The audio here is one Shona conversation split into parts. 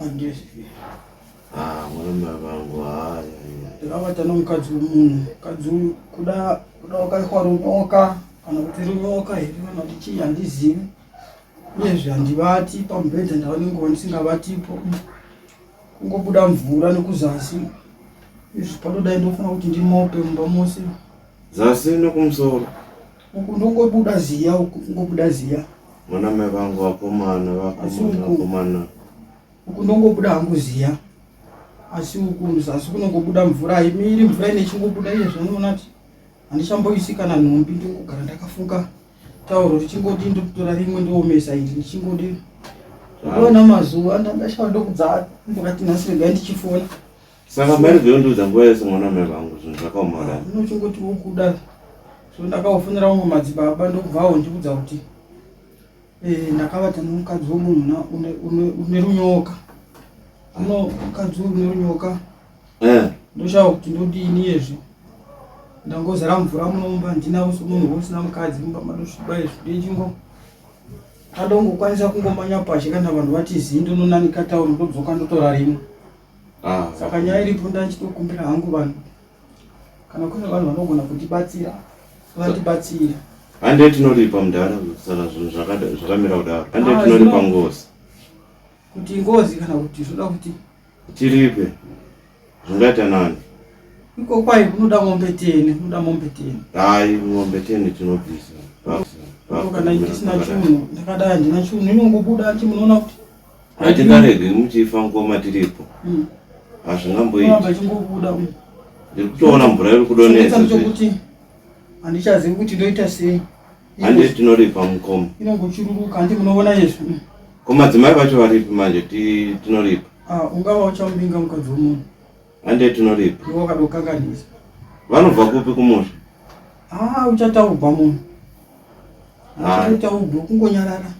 andizvi Ah, murume vangu haya ndakavata nomukadzi wemunhu mukadzi uyu kuda kuda wakaitwa runyoka kana kuti runyoka here kana kuti chii handizivi uyezve handivati pamubhedha ndava nenguva ndisingavatipo kungobuda mvura nekuzasi izvi panodai ndofana kuti ndimope mumba mose zasi nekumusoro Uku ndongobuda ziya uku kungobuda ziya. Mwana mai vangu vakomana vakomana vakomana. Uku ndongobuda hangu ziya. Asi uku muzasi kunongobuda mvura haimiri mvura ine chingobuda iye zvanoona kuti handichamboisi kana nhumbi ndongogara ndakafuka tauro richingodi ndokutora rimwe ndoomesa iri ndichingodi ona mazuva ndandashava ndokudza ndokati nhasi regai ndichifona Saka mari veundiudza nguva yese mwana wamai vangu zvinhu zvakaoma kudai. Unochingoti ukuda so ndakaofonera vamwe madzibaba ndokubvawo ndikuudza kuti eh, ndakavata nomukadzi womunhu une runyoka uno mukadzi une runyoka eh. ndoshava kuti ndodini yezve ndangozara mvura munomba handinawo somunhu wosina mukadzi mumba madosviba izvi ndechingo adongokwanisa kungomanya pashe kana vanhu vati zii ndononanika tauri ndodzoka ndotora rimwe Ah. Saka nyaya iripo ndachitokumbira hangu vanhu kana kune vanhu vanogona kutibatsira vatibatsira. Hande tinoripa mudhara saka zvinhu zvakamira kudaro. Hande ah, tinoripa ngozi. Kuti ngozi kana kuti zvoda kuti tiripe zvingaita nani? Iko kwai kunoda mombe teni, kunoda mombe teni. Hayi, mombe teni tinobvisa. Kana ndisina chinhu, ndakadai handina chinhu, inongobuda chimunoona kuti hatingarege muchifa ngoma tiripo mm. hazvingamboiti ndiri kutoona mvura iri kudonesa handichazivi kuti ndoita sei handi tinoripa mukoma inongochururuka handi munoona izvi mm. ko madzimai vacho varipi manje tinoripa ah, ungava uchamuvinga mukadzi womunhu handi tinoripa iwe wakadokanganisa vanobva kupi kumusha ah, uchataubva munhu ah. uchataubva kungonyarara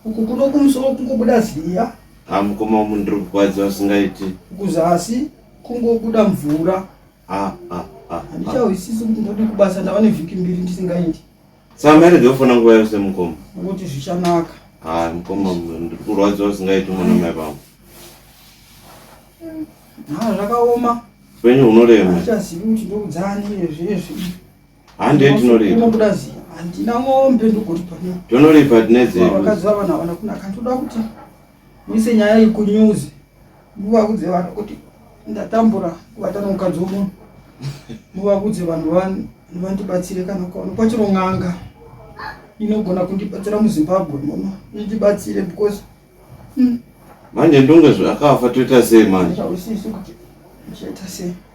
Uku kuno kumusoro kungobuda ziya. Ha mukoma umu ndiri kurwadziwa zvisingaiti. Kuzasi kungobuda mvura. Ha ha ha. Handichahwisisi kuti ndodi kubasa ndava nevhiki mbiri ndisingaiti. Saka mairege kufona nguva yose mukoma. Ngokuti zvichanaka. Ha mukoma ndiri kurwadziwa zvisingaiti mwana mai vangu. Ha zvakaoma. Upenyu hunorema. Handichazivi kuti ndokudzani zvinezvi. Hande tinoripa. Ndinobuda ziya. Handina mombe ndogoripa. Tonoripa tine dzedu. Vakadzi vavana vana kuna kantoda kuti muise nyaya iyi kunews. Muvakudze vanhu kuti ndatambura kuvatana mukadzi womunhu. Muvakudze vanhu vanhu vandibatsire kana ukaona kwachiro n'anga inogona kundibatsira muzimbabwe muno indibatsire because hmm. manje ndonge zvakafa toita sei manje ausiisi kuti ndichaita sei